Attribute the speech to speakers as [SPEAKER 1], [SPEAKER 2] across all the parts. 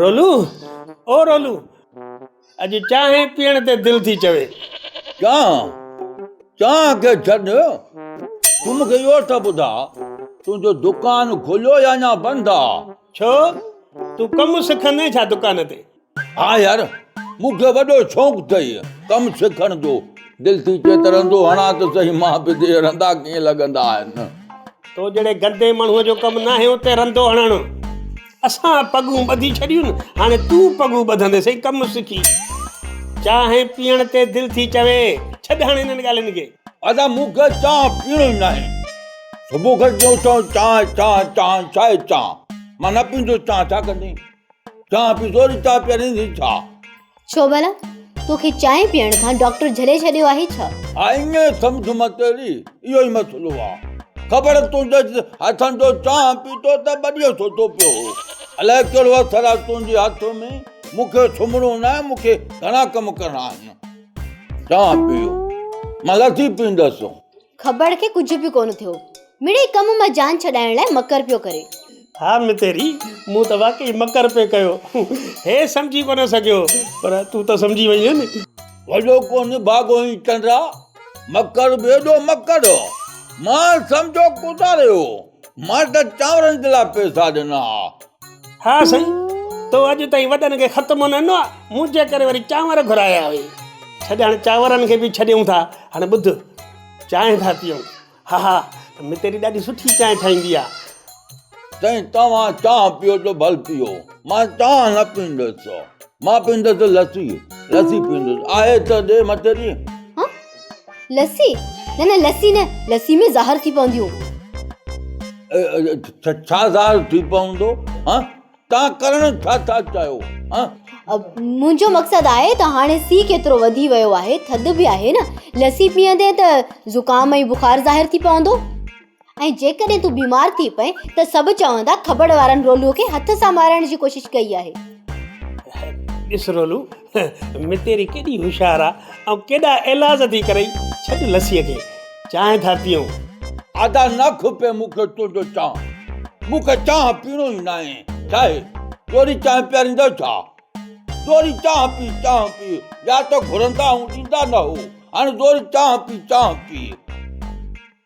[SPEAKER 1] رولو او رولو اڄ چانهه پيئڻ تي دل ٿي چوي چانهه
[SPEAKER 2] چانهه کي ڇڏ تون مون کي اهو ته ٻڌا تنهنجو دڪان کليو يا اڃا بند آ ڇو
[SPEAKER 1] تون ڪم سکندين ڇا دڪان تي ها يار،
[SPEAKER 2] مون کي وڏو شوق ٿئي ڪم سکڻ جو. دل ٿي چئي ته رندو هڻان ته سهي مان به ڏي رندا ڪيئن لڳندا آهن. تو جهڙي
[SPEAKER 1] گندي ماڻهوء جو ڪم ناهي اتي رندو هڻڻ. اسان پڳون ٻڌي ڇڏيون هاڻي تون پڳون ٻڌندي سهي ڪم سکي. چانهه پيئڻ تي دل ٿي چوي. ڇڏ هاڻي انهن ڳالهين کي. ادا مون کي
[SPEAKER 2] چانهه پيئڻو ئي ناهي. صبح کان ٽيون ٿيو چانهه چانهه چانهه ڇا اهي چانهه. مان نه پيندس چانهه ڇا ڪندين. چانهه پيتو ته چانهه پياريندين ڇا؟ ڇو ڀلا؟
[SPEAKER 3] توکي چانهه پيئڻ کان ڊاڪٽر جهلي ڇڏيو آهي ڇا؟ آئين سمجهه
[SPEAKER 2] متيري اهو ئي مسئلو آ. خبر تنهنجي هٿن جو چانهه پيتو ته ٻڏيو ڇو ٿو پيو هو. الائي ڪهڙو اثر آ تنهنجي هٿ ۾. مون کي سمهڻو ناهي، مون کي گهڻا ڪم ڪرڻا آهن. چانهه پيو، مان لسي پيئندس. کٻڙ کي
[SPEAKER 3] ڪجهه به ڪونه ٿيو. مڙئي ڪم مان جان ڇڏائڻ لاء مڪر پيو ڪري. ها متيري،
[SPEAKER 1] مون ته واقعي مڪر پئي ڪيو. هي سمجهي ڪونه سگهيو، پر تون ته سمجهي وئينء نه. وڏو ڪو
[SPEAKER 2] نڀاڳو هين چنڊا، مڪر به ايڏو مڪر هو. مان سمجهو ڪوتاري هو. مان ته چانورن جي لاء پئسا ڏنا ها. ها
[SPEAKER 1] سائين، تو اڄ تائين وڏن کي خط ڪونه ڏنو آهي، منهنجي ڪري وري چانور گهرايا هئي. ڇڏ هاڻي چانورن کي به ڇڏيون ٿا، هاڻي ٻڌ، چانهه ٿا پيئون. ها ها، متيري ڏاڍي سٺي چانهه ٺاهيندي آهي. سائين،
[SPEAKER 2] توهان چانهه پيئو ته ڀل پيئو، مان چانهه نه پيئندس. مان پيئندس لسي، لسي پيئندس. آهي ته ڏي متيري.
[SPEAKER 3] لسي نه نه لسي نه لسي ۾ زهر ٿي پونديون
[SPEAKER 2] ڇا زهر ٿي پوندو ها تان ڪرڻ ڇا ٿا چاهيو ها
[SPEAKER 3] منهنجو مقصد آهي ته هاڻي سي ڪيترو وڌي ويو آهي ٿڌ به آهي نه لسي پيئندي ته زڪام ۽ بخار ظاهر ٿي پوندو ۽ جيڪڏهن تون بيمار ٿي پئين ته سڀ چوندا کٻڙ وارن رولوء کي هٿ سان مارڻ جي ڪوشش ڪئي آهي.
[SPEAKER 1] ڏس رولو، متيري ڪيڏي هوشيار آ ۽ ڪيڏا ايلاز ٿي ڪرئي. ڇڏ لسيء کي، چانهه ٿا پيئون. ادا نه
[SPEAKER 2] کپي مون کي تنهنجو چانهه. مون کي چانهه پيئڻو ئي ناهي. ڇاهي؟ تو وري چانهه پياريندين ڇا؟ تو وري چانهه پي، چانهه پي، يا ته گهرندا آهون ڏيندا نه هو. هاڻي تو وري چانهه پي، چانهه پي.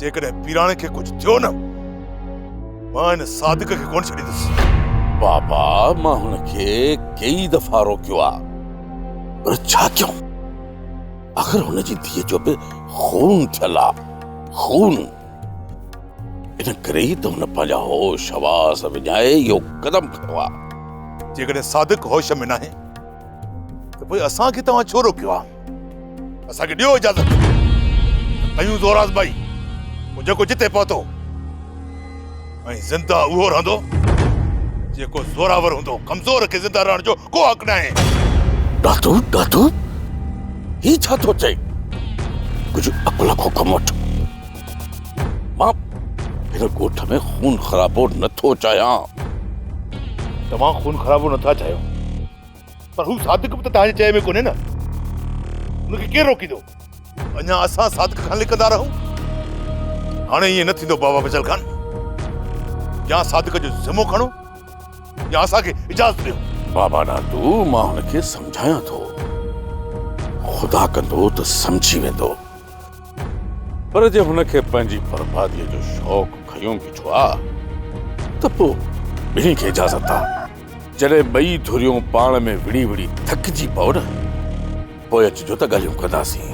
[SPEAKER 4] جيڪڏهن پيراڻي کي ڪجهه ٿيو نه مان هن صادق کي ڪونه ڇڏيندس. بابا
[SPEAKER 2] مان هن کي ڪيئي دفعا روڪيو آ پر ڇا ڪيون آخر هن جي ڌيء جو به خون ٿيل آ خون ان ڪري ئي ته هن پنهنجا هوش حواس وڃائي اهو قدم کنيو آ. جيڪڏهن
[SPEAKER 4] صادق هوش ۾ ناهي ته پوء اسان کي توهان ڇو روڪيو آ؟ اسان کي ڏيو اجازت ته ڪيون زور آزمائي پوء جيڪو جتي پهتو ۽ زنده اهو رهندو جيڪو زوراور هوندو ڪمزور کي زنده رهڻ جو ڪو حق ناهي دادو
[SPEAKER 2] دادو هي ڇا ٿو چئي ڪجهه عقل کو ڪم وٺ مان هن ڳوٺ ۾ خون خرابو نٿو چاهيان
[SPEAKER 4] توهان خون خرابو نٿا چاهيو پر هو صادق به ته توهان جي چئي ۾ ڪونهي نه. هن کي ڪير روڪيندو؟ اڃا اسان صادق کان لڪندا رهون؟ هاڻي ائين نه ٿيندو بابا فيصل خان. يا صادق جو ذمو کڻو يا اسان کي اجازت ڏيو. بابا ناتو
[SPEAKER 2] مان هن کي سمجهايان ٿو. خدا ڪندو ته سمجهي ويندو. پر جي هن کي پنهنجي برباديء جو شوق کنيو بيٺو آ ته پوء ٻنهي کي اجازت آ جڏهن ٻئي ڌريون پاڻ ۾ وڙهي وڙهي ٿڪجي پئو نه پوء اچجو ته ڳالهيون ڪنداسين.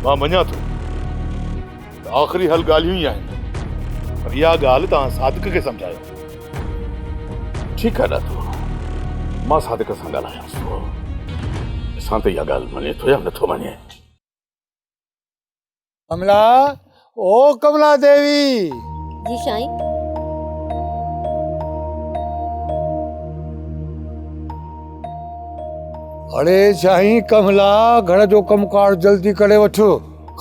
[SPEAKER 2] مان مڃان
[SPEAKER 4] ٿو ته آخري حل ڳالهيون ئي آهن پر اها ڳالهه توهان صادق کي سمجهايو.
[SPEAKER 2] ٺيڪ آ ڏاتو مان صادق سان ڳالهايانس ٿو ڏسان ته اها ڳالهه مڃي ٿو يا نٿو مڃي.
[SPEAKER 5] ڪملا او ڪملا ديوي. جي سائين. اڙي سائين ڪملا گھر جو ڪم ڪار جلدي ڪري وٺ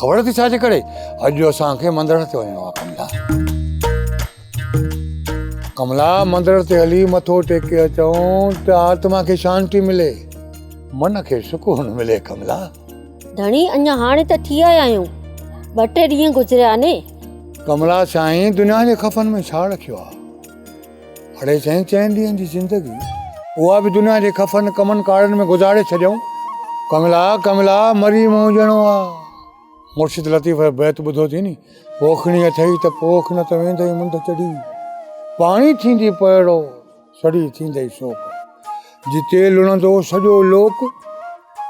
[SPEAKER 5] خبر اٿئي ڇا ٿي ڪري اڄ جو اسان کي مندر تي وڃڻو آ ڪملا. ڪملا مندر تي هلي مٿو ٽيڪي اچون ته آتما کي شانتي ملي من کي سڪون ملي ڪملا. ڌڻي
[SPEAKER 6] اڃا هاڻي ته ٿي آيا آهيون ٻه ٽي ڏينهن گذريا آهن. ڪملا
[SPEAKER 5] سائين دنيا جي خفن ۾ ڇا رکيو آهي. اڙي سائين چئن ڏينهن جي زندگي اها به دنيا جي خفن ڪمن ڪارن ۾ گذاري ڇڏيائون. ڪملا ڪملا مري مون ڄڻو آ. مرشد لطيف جو بيت ٻڌو ٿي ني پوکڻي اٿئي ته پوک نه ته ويندئي منڍ چڙهي پاڻي ٿيندي پوئڙو سڙي ٿيندئي سوڪ. جتي لڻندو سڄو لوڪ،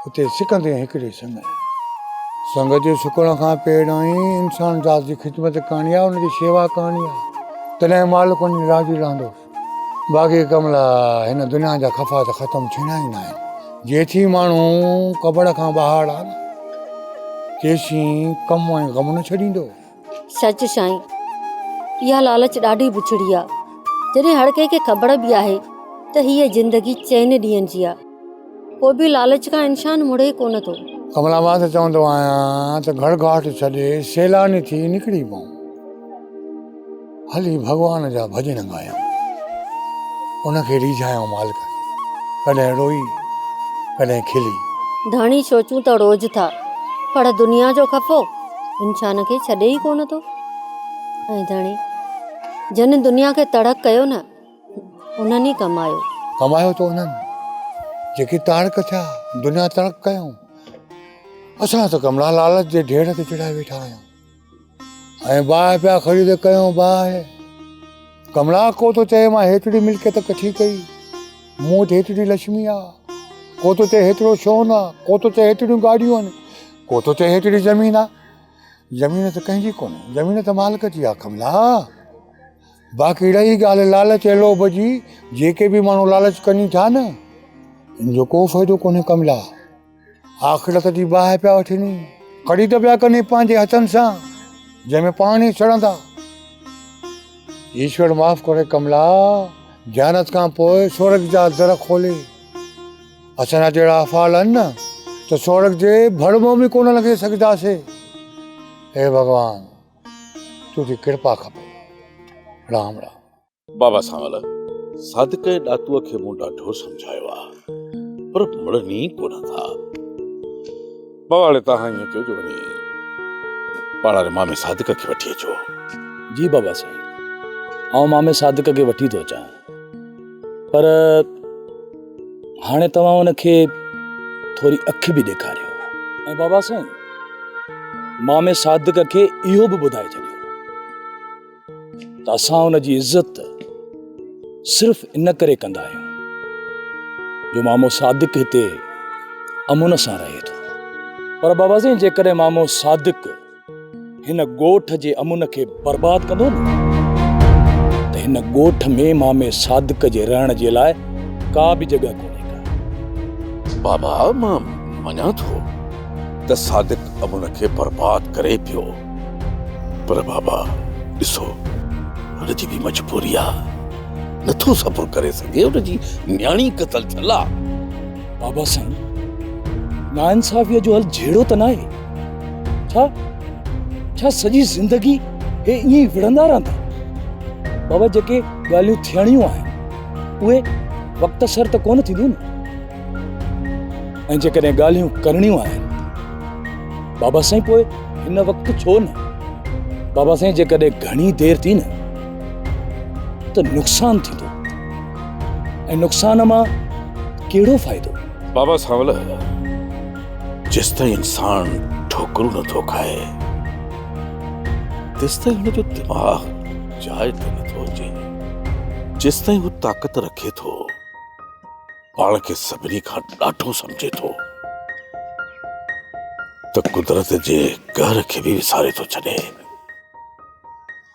[SPEAKER 5] اتي سڪندين هڪڙي سڱ. سڱ جي سڪڻ کان پهريائين انسان ذات جي خدمت ڪرڻي آهي، ان جي شيوا ڪرڻي آهي، تڏهن مالڪ ان جي راضي رهندو. باقي ڪم لاء هن دنيا جا خفا ته ختم ٿيڻا ئي ناهن. جيسين ماڻهو قبر کان ٻاهر آهي، تيسين ڪم ۽ غم نه ڇڏيندو. سچ
[SPEAKER 6] سائين اها لالچ ڏاڍي بڇڙي آ جڏهن هر ڪنهن کي خبر به آهي ته هيء زندگي چئن ڏينهن جي آ پوء به لالچ کان انسان مڙي ڪونه ٿو. ڪمل آباد ته چوندو
[SPEAKER 5] آهيان ته گهڙ گهاٽ ڇڏي سيلاني ٿي نڪري پئون. هلي ڀڳوان جا ڀڄڻ ڳايان. ان کي ريجهايان مالڪ کي. ڪڏهن روئي ڪڏهن کلي. ڌڻي سوچون
[SPEAKER 6] ته روز ٿا. پر دنيا جو خفو انسان کي ڇڏي ئي ڪونه ٿو. ۽ ڌڻي جن دنيا کي تڙڪ ڪيو نه انهن ئي ڪمايو. ڪمايو ته انهن
[SPEAKER 5] جيڪي تاڙڪ ٿيا. دنيا تڙڪ ڪيائون. اسان ته ڪمرا لالچ جي ڍير تي چڙهائي ويٺا آهيون. ۽ باهه پيا خريد ڪيون باهه. ڪملا ڪو تو چئي مان هيتري ملڪيت ڪٺي ڪئي. مون وٽ هيتري لڇمي آ. ڪو تو چئي هيترو سون آ. ڪو تو چئي هيتريون گاڏيون آهن. ڪو تو چئي هيتري زمين آ. زمين ته ڪنهن جي ڪونهي. زمين ته مالڪ جي آ ڪملا. باقي رهي ڳالهه لالچ ۽ لوڀ جي جيڪي به ماڻهو لالچ ڪني ٿا نه ان جو ڪو فائدو ڪونهي ڪملا. آخرت جي باهه پيا وٺين ڪڙي ته پيا ڪن پنهنجي هٿن سان جنهن ۾ پاڻ ئي سڙندا ايشور معاف ڪري ڪملا جانت کان پوء سورگ جا در کولي اسان جا جهڙا افعال آهن نه ته سورگ جي ڀڙ مون به ڪونه لنگهي سگهنداسي اي ڀڳوان تنهنجي ڪرپا کپي رام رام بابا سانول
[SPEAKER 2] صادق ۽ ڏاتوء کي مون ڏاڍو سمجهايو آ پر مڙن ئي ڪونه ٿا. بابا هاڻي توهان ائين ڪيو جو وڃي پاڙاري مامي صادق کي وٺي اچو. جي
[SPEAKER 7] بابا سائين آئون مامي صادق کي وٺي ٿو اچان پر هاڻي توهان ان کي ٿوري اک به ڏيکاريو ۽ بابا سائين مامي صادق کي اهو به ٻڌائي ڇڏيو ته اسان ان جي عزت صرف ان ڪري ڪندا آهيون جو مامو صادق هتي امن سان رهي ٿو پر بابا سائين جيڪڏهن مامو صادق هن ڳوٺ جي امن کي برباد ڪندو نه ته هن ڳوٺ ۾ مامي صادق جي رهڻ جي لاء ڪا به جڳهه ڪونهي ڪا
[SPEAKER 4] بابا مان مڃان ٿو ته صادق امن کي برباد ڪري پيو پر بابا ڏسو هن جي به مجبوري آ نٿو صبر ڪري سگهي ان جي نياڻي قتل ٿيل آ. بابا
[SPEAKER 7] سائين ناانصافيء جو حل جهيڙو ته ناهي ڇا؟ ڇا سڄي زندگي هي ائين ئي وڙهندا رهندا؟ بابا جيڪي ڳالهيون ٿيڻيون آهن اهي وقت سر ته ڪونه ٿينديون نه؟ ۽ جيڪڏهن ڳالهيون ڪرڻيون آهن بابا سائين پوء هن وقت ڇو نه بابا سائين جيڪڏهن گهڻي دير ٿي نه ته نقصان ٿيندو ۽ نقصان مان ڪهڙو فائدو بابا سانول
[SPEAKER 4] جس تائين انسان ٺوڪرون نٿو کائي تس تائين هن جو دماغ جاء تي نٿو اچي جس تائين هو طاقت رکي ٿو پاڻ کي سڀني کان ڏاڍو سمجهي ٿو ته قدرت جي قهر کي به وساري ٿو ڇڏي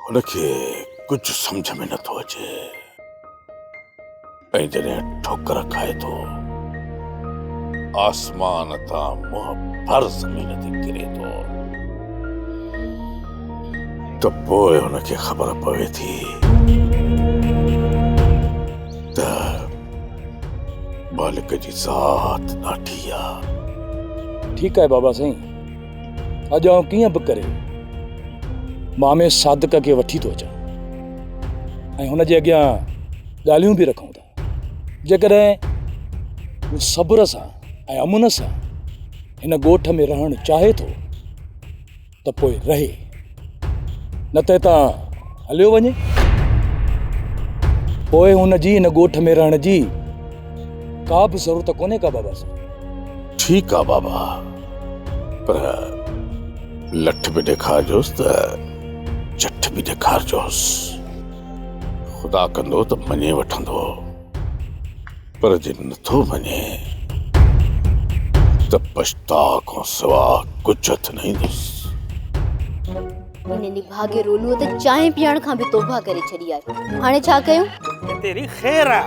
[SPEAKER 4] هن کي ڪجهه سمجهه ۾ نٿو اچي ۽ جڏهن ٺوڪر کائي ٿو آسمان تان منهن ڀر زمين تي ڪري ٿو ته پوء هن کي خبر پوي ٿي مالڪ جي ذات ڏاڍي آ.
[SPEAKER 7] ٺيڪ آهي بابا سائين اڄ آئون ڪيئن به ڪري مامي صادق کي وٺي ٿو اچان ۽ هن جي اڳيان ڳالهيون به رکون ٿا جيڪڏهن هو صبر سان ۽ امن سان هن ڳوٺ ۾ رهڻ چاهي ٿو ته پوء رهي، نه ته هتان هليو وڃي. پوء هن جي هن ڳوٺ ۾ رهڻ جي ڪا به ضرورت ڪونهي ڪا بابا سان. ٺيڪ آ
[SPEAKER 4] بابا، پر لٺ به ڏيکارجوس ته چٺ به ڏيکارجوس. خدا ڪندو ته مڃي وٺندو. پر جي نٿو مڃين ته پڇتاء کان سوا ڪجهه هٿ نه ايندس.
[SPEAKER 3] هن نڀاڳي رولوء ته چانهه پيئڻ کان به توبهه ڪري ڇڏي آهي. هاڻي ڇا ڪيون؟ تيري خير
[SPEAKER 1] آ.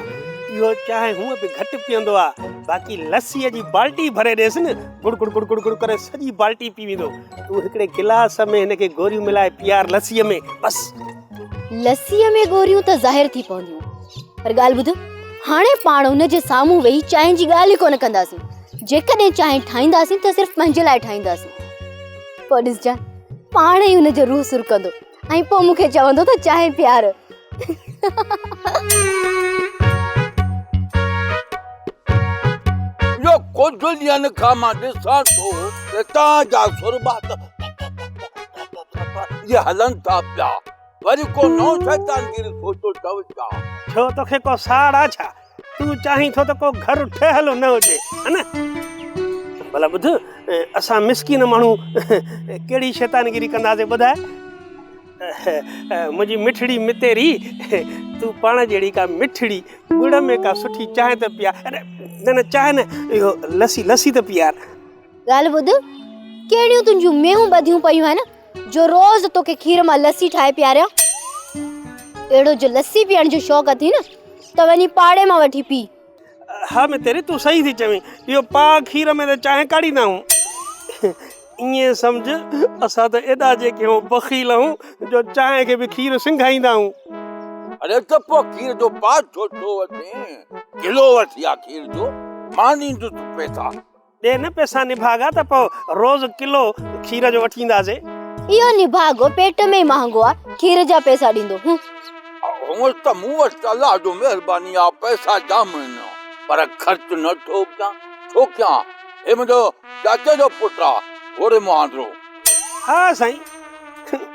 [SPEAKER 1] اهو چانهه هونء به گهٽ پيئندو آ، باقي لسيء جي بالٽي ڀري ڏيس نه، گڙ گڙ گڙ گڙ گڙ ڪري سڄي بالٽي پي ويندو. تون هڪڙي گلاس ۾ هن کي گوريون ملائي پيئار لسيء ۾، بس. لسيء
[SPEAKER 3] ۾ ڳوريون ته ظاهر ٿي پونديون پر ڳالهه ٻڌ هاڻي پاڻ ان جي سامهون ويهي چانهه جي ڳالهه ئي ڪونه ڪنداسين جيڪڏهن چانهه ٺاهينداسين ته صرف پنهنجي لاء ٺاهينداسين پوء ڏسجان پاڻ ئي ان جو روح سرڪندو ۽ پوء مون کي چوندو ته چانهه پيار
[SPEAKER 2] جو ڪجهه ڏينهن کان مان ڏسان ٿو ته تان جا سربا جي هلن ٿا پيا وري ڪو نو شيطان گير ٿو ٿو چئو ڇا ڇو توکي ڪو
[SPEAKER 1] ساڙ آ ڇا تون چاهين ٿو ته ڪو گهر ٺهيل نه هجي ها نه ڀلا ٻڌ اسان مسڪين ماڻهو ڪهڙي شيطان گيري ڪنداسي ٻڌاء منهنجي مٺڙي متيري تون پاڻ جهڙي ڪا مٺڙي ڳڙ ۾ ڪا سٺي چانهه ته پيا نه نه چانهه نه اهو لسي لسي ته پيار ڳالهه ٻڌ،
[SPEAKER 3] ڪهڙيون تنهنجون مينهون ٻڌيون پيون آهن جو روز توکي کير مان لسي ٺاهي پياريان؟ اهڙو جو لسي پيئڻ جو شوق اٿئي نه ته وڃي پاڙي مان وٺي پي. ها متيري،
[SPEAKER 1] تون صحيح ٿي چوين. اهو پاء کير ۾ ته چانهه ڪاڙهيندا آهيون. ائين سمجهه، اسان ته ايڏا جيڪي هون بخيل آهيون جو چانهه کي به کير سنگهائيندا آهيون. اڙي ته
[SPEAKER 2] پوء کير جو پاء ڇو ٿو وٺين؟ ڪلو وٺ يا کير جو، مان ڏيندس پئسا. ڏي نه پئسا
[SPEAKER 1] نڀاڳا ته پوء روز ڪلو کير جو وٺي اينداسين. اهو نڀاڳو
[SPEAKER 3] پيٽ ۾ ئي مهانگو آ، کير جا پئسا ڏيندو هون. هونئن
[SPEAKER 2] ته مون وٽ الله جو مهرباني آ، پئسا ڄام آهن، پر خرچ نه ٿو ڪيان، ڇو ڪيان؟ هي منهنجو چاچي جو پٽ
[SPEAKER 1] آ،
[SPEAKER 2] گوري مهاندرو. ها سائين.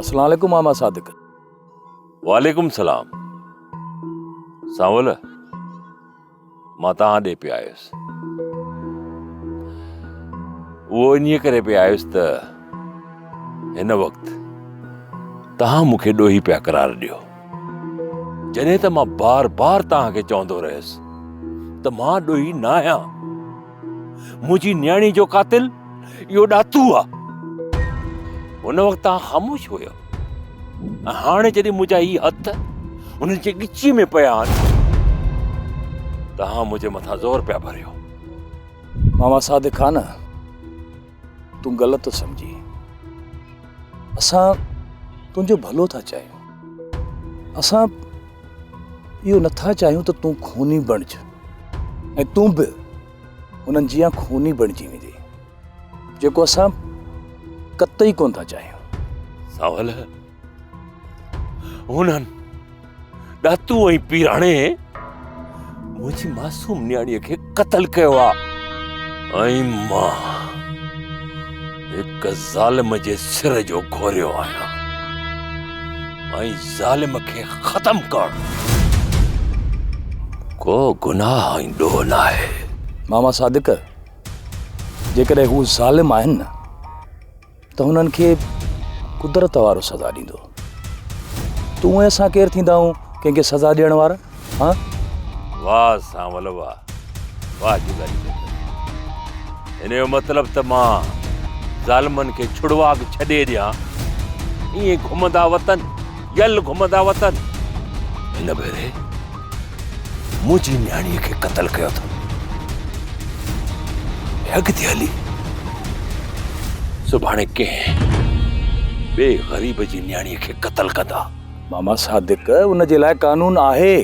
[SPEAKER 7] اسلام عليڪم ماما صادق.
[SPEAKER 8] وعليڪم سلام سانول مان توهان ڏي پي آيس اهو انهي ڪري پي آيس ته هن وقت توهان مون کي ڏوهي پيا قرار ڏيو جڏهن ته مان بار بار توهان کي چوندو رهيس ته مان ڏوهي نه آهيان منهنجي نياڻي جو قاتل اهو ڏاتو آ. هن وقت آ خاموش هيو. هاڻي جڏهن منهنجا هي هٿ هن جي ڳچي ۾ پيا آهن ته منهنجي مٿان زور پيا ڀريو.
[SPEAKER 7] ماما صادق خان تون غلط ٿو سمجهين اسان تنهنجو ڀلو ٿا چاهيون اسان اهو نٿا چاهيون ته تون خوني بڻج ۽ تون به انهن جيان خوني بڻجي ويندي جيڪو اسان قطعي ڪون ٿا چاهيون ساول
[SPEAKER 8] هونئن ڏاتو ۽ پيراڻي منهنجي معصوم نياڻيء کي قتل ڪيو آهي ۽ مان هڪ ظالم جي سر جو گهوريو آهيان ۽ ظالم کي ختم ڪرڻ ڪو گناهه ۽ ڏوهه نه آهي ماما صادق
[SPEAKER 7] جيڪڏهن هو ظالم آهن نه ته هنن کي قدرت وارو سزا ڏيندو تون ۽ اسان ڪير ٿيندا آهيون ڪنهن کي سزا ڏيڻ وارا ها واه
[SPEAKER 8] سان ول واه واه جداري هن جو مطلب ته مان ظالمن کي ڇڙواڪ ڇڏي ڏيان ائين گهمندا وطن يل گهمندا وطن هن ڀيري منهنجي نياڻي کي قتل ڪيو اٿن ۽ اڳتي هلي سڀاڻي ڪنهن ٻئي غريب جي نياڻي کي قتل ڪندا. ماما صادق
[SPEAKER 7] ان جي لاء قانون آهي.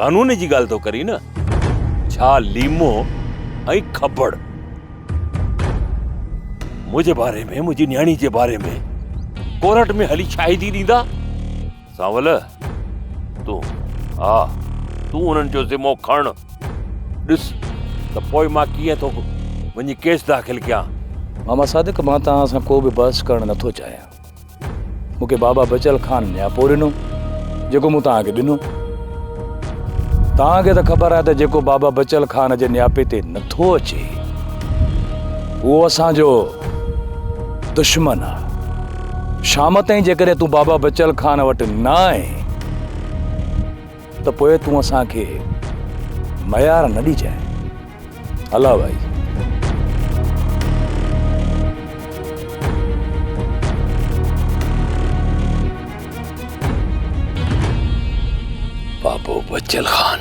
[SPEAKER 7] قانون جي ڳالهه
[SPEAKER 8] ٿو ڪرين نه ڇا ليمو ۽ کبڙ منهنجي باري ۾ منهنجي نياڻي جي باري ۾ ڪورٽ ۾ هلي شاهدي ڏيندا. سانول، تون، ها، تون انهن جو ذمو کڻ. ڏس ته پوء مان ڪيئن ٿو وڃي ڪيس داخل ڪيان. ماما صادق،
[SPEAKER 7] مان توهان سان ڪو به بحث ڪرڻ نه ٿو چاهيان. مون کي بابا بچل خان نياپو ڏنو، جيڪو مون توهان کي ڏنو. توهان کي ته خبر آهي ته جيڪو بابا بچل خان جي نياپي تي نه ٿو اچي، اهو اسان جو دشمن آهي. شام تائين جيڪڏهن تون بابا بچل خان وٽ نه آئين ته پوء تون اسان کي ميار نه ڏجانء الا ڀائي
[SPEAKER 8] بابو بچل خان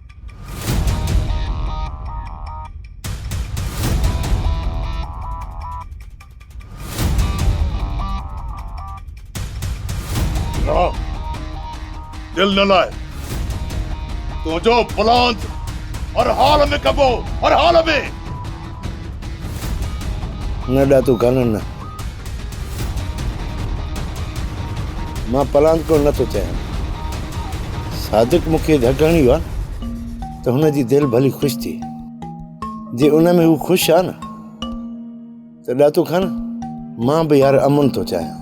[SPEAKER 4] دل نه لائي تنهنجو پلان هر حال ۾ ڪبو هر حال ۾
[SPEAKER 9] نه ڏا تون ڪانن نه مان پلانڪ ڪو نه ٿو چاهيان صادق مون کي ڌڪ هڻي ويو آهي ته هن جي دل ڀلي خوش ٿئي جي ان ۾ هو خوش آهي نه ته ڏاتو خان مان به يار امن ٿو چاهيان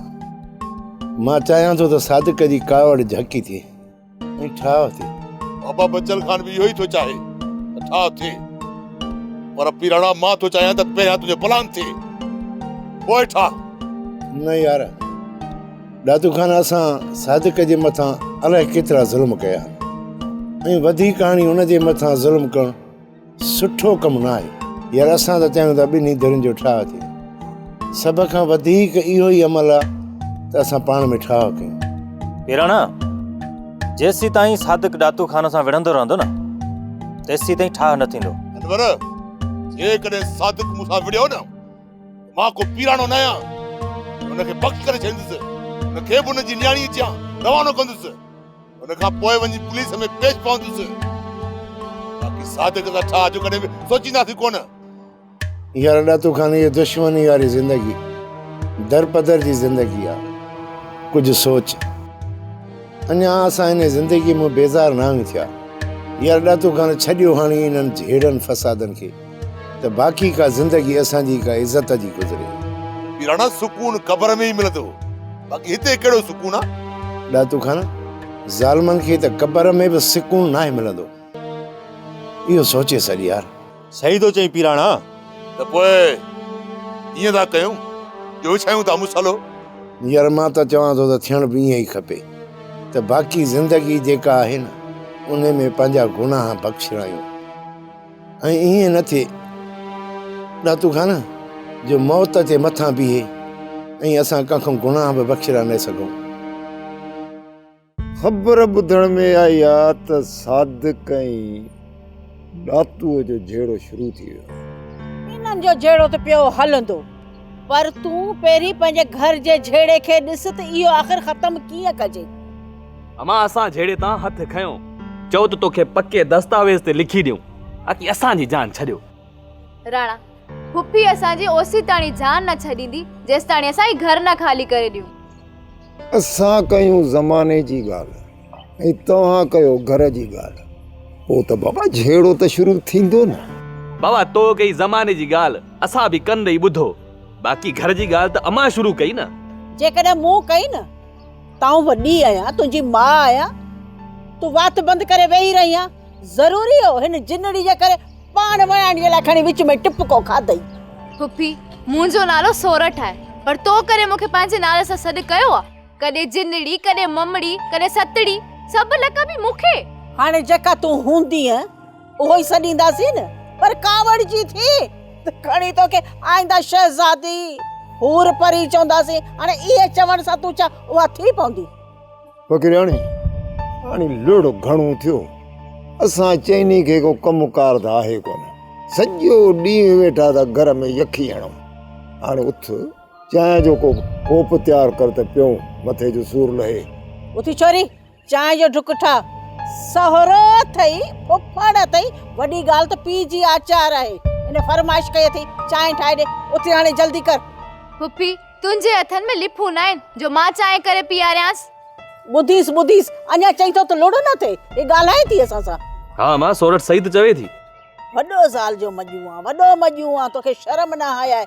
[SPEAKER 9] مان چاهيان ٿو ته صادق جي ڪاوڙ جهڪي ٿئي ۽ ٺاهه ٿئي. بابا بچل
[SPEAKER 4] خان به اهو ئي ٿو چاهي ته ٺاهه ٿئي. پر پيراڻا مان ٿو چاهيان ته پهريان تنهنجو پلان ٿئي پوء ٺاهه. نه يار
[SPEAKER 9] دادو خان اسان صادق جي مٿان الائي ڪيترا ظلم ڪيا آهن ۽ وڌيڪ هاڻي هن جي مٿان ظلم ڪرڻ سٺو ڪم ناهي يار اسان ته چاهيون ٿا ٻنهي ڌرين جو ٺاهه ٿئي سڀ کان وڌيڪ اهو ئي عمل آهي ته اسان پاڻ ۾ ٺاهه ڪيون. پيراڻا
[SPEAKER 10] جيسين تائين صادق ڏاتو خان سان وڙهندو رهندو نه تيسين تائين ٺاهه نه ٿيندو. انور
[SPEAKER 4] جيڪڏهن صادق مون سان وڙهيو نه ته مان ڪو پيراڻو نه آهيان ۽ ان کي پڪ ڪري ڇڏيندس ان کي به ان جي نياڻيء جيان روانو ڪندس. ان کان پوء وڃي پوليس ۾ پيش پوندس. باقي صادق سان ڇا اڄ ڪڏهن به سوچينداسين ڪونه.
[SPEAKER 9] يار ڏاتو خان هيء دشمني واري زندگي در پدر جي زندگي آ. ڪجهه سوچ. اڃا اسان انهي زندگي مون بيزار نانگ ٿيا. يار ڏاتو خان ڇڏيو هاڻي انهن جهيڙن فسادن کي. ته باقي ڪا زندگي اسان جي ڪا عزت جي گذري. پيراڻا
[SPEAKER 4] سڪون قبر ۾ ئي ملندو باقي هتي ڪهڙو سڪون آ. ڏاتو خان
[SPEAKER 9] ظالمن کي ته قبر ۾ به سڪون ناهي ملندو اهو سوچي سڏ يار. صحيح ٿو چئين
[SPEAKER 10] پيراڻا. ته پوء
[SPEAKER 4] ائين ٿا ڪيون جو وڇايون ٿا مصلو. يار مان
[SPEAKER 9] ته چوان ٿو ته ٿيڻ به ائين ئي کپي ته باقي زندگي جيڪا آهي نه انهي ۾ پنهنجا گناهه بخشرايون. ۽ ائين نه ٿئي ڏاتو خان جو موت تي مٿان بيهي ۽ اسان ڪنهن کان گناهه به بخشرا نه سگهون.
[SPEAKER 11] خبر ٻڌڻ ۾ آئي آ ته صادق ۽ ڏاتوء جو جهيڙو شروع ٿي ويو آهي. انهن جو
[SPEAKER 12] جهيڙو ته پيو هلندو پر تون پهرين پنهنجي گهر جي جهيڙي کي ڏس ته اهو آخر ختم ڪيئن ڪجي. امان
[SPEAKER 13] اسان جهيڙي تان هٿ کنيو. چئو ته توکي پڪي دستاويز تي لکي ڏيون تاڪي اسان جي جان ڇڏيو. راڻا،
[SPEAKER 14] ڦڦي اسان جي اوسيتاڻي جان نه ڇڏيندي جيستاڻي اسان هي گهر نه خالي ڪري ڏيون. اسان
[SPEAKER 11] ڪيون زماني جي ڳالهه ۽ توهان ڪيو گهر جي ڳالهه پوء ته بابا جهيڙو ته شروع ٿيندو نه. بابا تو ڪئي
[SPEAKER 13] زماني جي ڳالهه اسان به ڪن ڏئي ٻڌو باقي گهر جي ڳالهه ته امان شروع ڪئي نه. جيڪڏهن مون
[SPEAKER 12] ڪئي نه تون وڏي آهيان، تنهنجي ماء آهيان، تون وات بند ڪري ويهي رهيان، ضروري هو هن جنڙي جي ڪري پاڻ وڻاڻيء لاء کڻي وچ ۾ ٽپڪو کاڌئي. پڦي،
[SPEAKER 14] منهنجو نالو سورٺ آهي، پر تو ڪڏهن مون کي پنهنجي نالي سان سڏ ڪيو آهي؟ ڪڏهن جنڙي، ڪڏهن ممڙي، ڪڏهن ستڙي، سڀ لقب ئي مون کي. هاڻي جيڪا تون
[SPEAKER 12] هوندينء. اهو ئي سڏينداسين پر ڪاوڙ جي ٿي ته کڻي توکي آئنده شهزادي حور پري چونداسين هاڻي اهي چوڻ سان تون ڇا اها ٿي پوندي فقيرياڻي
[SPEAKER 11] هاڻي لڙ گهڻو ٿيو اسان چئني کي ڪو ڪم ڪار ته آهي ڪونه سڄو ڏينهن ويٺا ته گهر ۾ يکي هڻو هاڻي اٿ چانهه جو ڪو ڪوپ تيار ڪر ته پيئون مٿي جو سور لهي اٿي ڇوري
[SPEAKER 12] چانهه جو ڍڪ ٺاهه. سهرو اٿئي، ڦڦڙ اٿئي، وڏي ڳالهه ته پيء جي آچار آهي. هن فرمائش ڪئي اٿئي، چانهه ٺاهي ڏي. اٿي هاڻي جلدي ڪر. ڦڦي،
[SPEAKER 14] تنهنجي هٿن ۾ لڦون ناهن، جو مان چانهه ڪري پيئاريانس. ٻڌيس ٻڌيس،
[SPEAKER 12] اڃا چئين ٿو ته لڙ نه ٿئي. هي ڳالهائي ٿي اسان سان. ها امان، سورٺ صحيح
[SPEAKER 13] ته چوي ٿي. وڏو زال
[SPEAKER 12] جو مڄون آن، وڏو مڄون آن، توکي شرم نه هاياهي.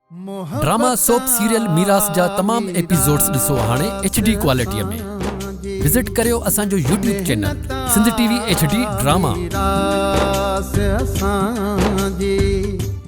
[SPEAKER 15] ڊراما سوپ سيريل ميراث جا تمام ايپيسوڊز ڏسو هاڻي ايڇ ڊي ڪوالٽي ۾ وزٽ ڪريو اسان جو YouTube channel Sindh T V H D drama.